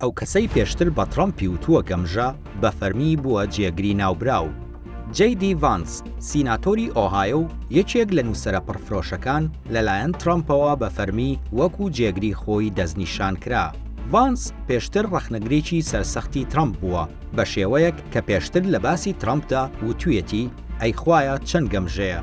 ئەو کەسەی پێشتر بە تڕەمپی وتووە گەمژە، بە فەرمی بووە جێگری ناوبراو. جەی دی ڤانس، سیناتۆری ئۆهایۆ و یەکێک لە نووسەرە پڕفرۆشەکان، لەلایەن تڕەمپەوە بە فەرمی وەکو جێگری خۆی دەستنیشان کرا. ڤانس پێشتر ڕەخنەگرێکی سەرسەختی تڕەمپ بووە، بە شێوەیەک کە پێشتر لە باسی تڕەمپدا وتوویەتی ئەی خوایە چەند گەمژەیە.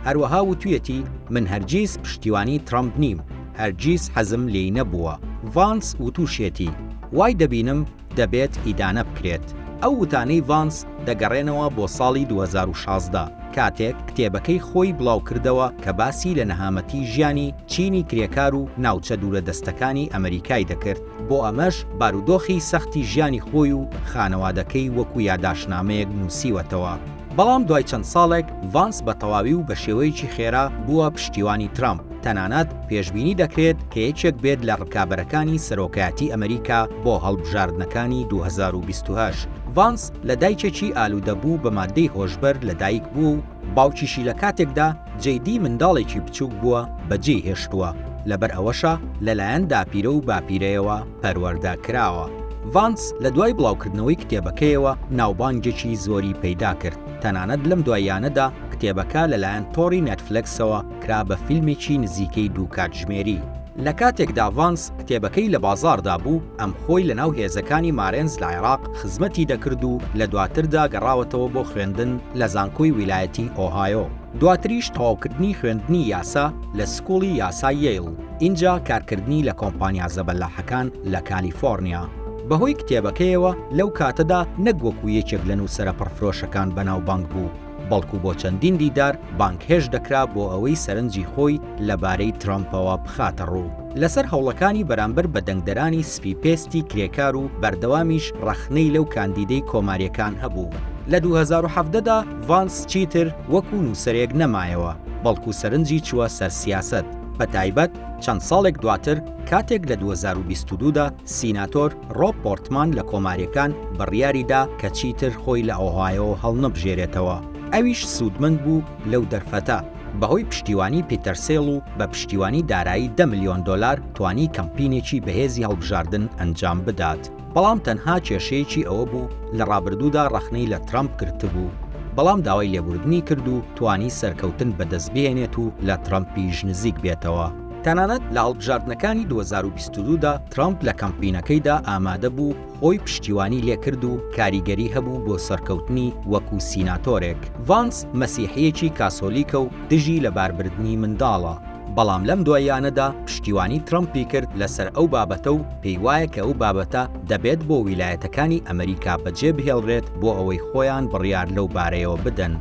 هەروەها وتوویەتی من هەرگیز پشتیوانی تڕەمپ نیم. هەرگیز حەزم لێی نەبووە. ڤانس وتوشیەتی، وای دەبینم دەبێت ئیدانە بکرێت. ئەو وتانەی ڤانس دەگەڕێنەوە بۆ ساڵی دوو هەزار و شازدە کاتێک کتێبەکەی خۆی بڵاوکردەوە کە باسی لە نەهامەتی ژیانی چینی کرێکار و ناوچە دوورە دەستەکانی ئەمەریکای دەکرد بۆ ئەمەش بارودۆخی سەختی ژیانی خۆی و خانەوادەکەی وەکو یاداشتنامەیەک نوسیوەتەوە. بەڵام دوای چەند ساڵێک، ڤانس بە تەواوی و بە شێوەیەکی خێرا بووە پشتیوانی ترامپ، تەنانەت پێشبینی دەکرێت کە یەکێک بێت لە ڕکابەرەکانی سەرۆکایەتی ئەمریکا بۆ هەڵبژاردنەکانی دوو هەزار و بیست و هەشت. ڤانس لە دایکێکی ئالوودەبوو بە ماددەی هۆشبەر لەدایک بووە و باوکیشی لە کاتێکدا جەی دی منداڵێکی بچووک بووە بەجێی هێشتووە، لەبەر ئەوەشە لەلایەن داپیرە و باپیرەیەوە، پەروەردە کراوە. ڤانس لە دوای بڵاوکردنەوەی کتێبەکەیەوە ناوبانگێکی زۆری پەیدا کرد، تەنانەت لەم دواییانەدا کتێبەکە لەلایەن تۆڕی نێتفلێکسەوە کرا بە فیلمێکی نزیکەی دوو کاتژمێری. لە کاتێکدا ڤانس کتێبەکەی لە بازاڕدا بوو، ئەم خۆی لەناو هێزەکانی مارێنز لە عێراق خزمەتی دەکرد و لە دواتردا گەڕاوەتەوە بۆ خوێندن لە زانکۆی ویلایەتی ئۆهایۆ. دواتریش تەواوکردنی خوێندنی یاسا لە سکوڵی یاسای یەیڵ، ئینجا کارکردنی لە کۆمپانیا زەبەلاحەکان لە کالیفۆڕنیا. بەهۆی کتێبەکەیەوە لەو کاتەدا نەک وەکو یەکێک لە نووسەرە پڕفرۆشەکان بەناوبانگ بوو، بەڵکو بۆ چەندین دیدار بانگهێشت دەکرا بۆ ئەوەی سەرنجی خۆی لەبارەی ترەمپەوە بخاتەڕوو لەسەر هەوڵەکانی بەرامبەر بە دەنگدەرانی سپی پێستی کرێکار و بەردەوامیش ڕەخنەی لەو کاندیدەی کۆمارییەکان هەبوو لە دوو هەزار و حەڤدە دا. ڤانس چیتر وەکو نووسەرێک نەمایەوە، بەڵکو سەرنجی چووە سەر سیاسەت، بەتایبەت چەند ساڵێک دواتر کاتێک لە دوو هەزار و بیست و دوو دا سیناتۆر ڕۆب پۆرتمان لە کۆماریەکان بڕیاری دا کە چیتر خۆی لە ئۆهایۆ هەڵنەبژێرێتەوە، ئەویش سوودمەند بوو لەو دەرفەتە، بەهۆی پشتیوانی پیتەر سێل و بە پشتیوانی دارایی دە ملیۆن دۆلار توانی کەمپینێکی بەهێزی هەڵبژاردن ئەنجام بدات. بەڵام تەنها کێشەیەکی ئەوە بوو لە ڕابردوودا ڕەخنەی لە ترەمپ گرتبوو، بەڵام داوای لێبوردنی کرد و توانی سەرکەوتن بەدەست بهێنێت و لە ترەمپیش نزیک بێتەوە. تەنانەت لە هەڵبژاردنەکانی دوو هەزار و بیست و دوو دا ترەمپ لە کەمپینەکەیدا ئامادە بوو خۆی پشتیوانی لێکرد و کاریگەری هەبوو بۆ سەرکەوتنی وەکو سیناتۆرێک. ڤانس مەسیحییەکی کاسۆلیکە و دژی لەباربردنی منداڵە. بەڵام لەم دواییانەدا پشتیوانی ترەمپی کرد لەسەر ئەو بابەتە و پێیوایە کە ئەو بابەتە دەبێت بۆ ویلایەتەکانی ئەمریکا بەجێبهێڵرێت بۆ ئەوەی خۆیان بڕیار لەو بارەیەوە بدەن.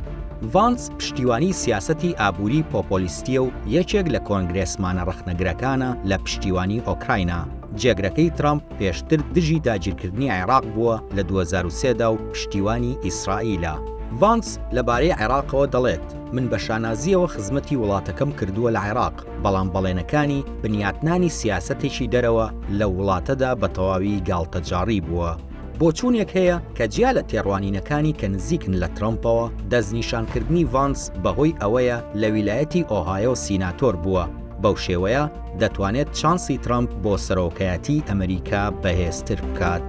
ڤانس پشتیوانی سیاسەتی ئابووری پۆپۆلیستییە و یەکێک لە کۆنگرێسمانە ڕەخنەگرەکانە لە پشتیوانی ئۆکراینا. جێگرەکەی ترەمپ پێشتر دژی داگیرکردنی عێراق بووە لە دوو هەزار و سێ دا و پشتیوانی ئیسرائیلە. ڤانس لەبارەی عێراقەوە دەڵێت. من بە شانازییەوە خزمەتی وڵاتەکەم کردووە لە عێراق، بەڵام بەڵێنەکانی بنیاتنانی سیاسەتێکی دەرەوە لەو وڵاتەدا بە تەواوی گاڵتەجاڕی بووە. بۆچوونێک هەیە کە جیا لە تێڕوانینەکانی کە نزیکن لە ترەمپەوە، دەستنیشانکردنی ڤانس بەهۆی ئەوەیە لە ویلایەتی ئۆهایۆ سیناتۆر بووە، بەو شێوەیە دەتوانێت چانسی ترەمپ بۆ سەرۆکایەتیی ئەمریکا بەهێزتر بکات.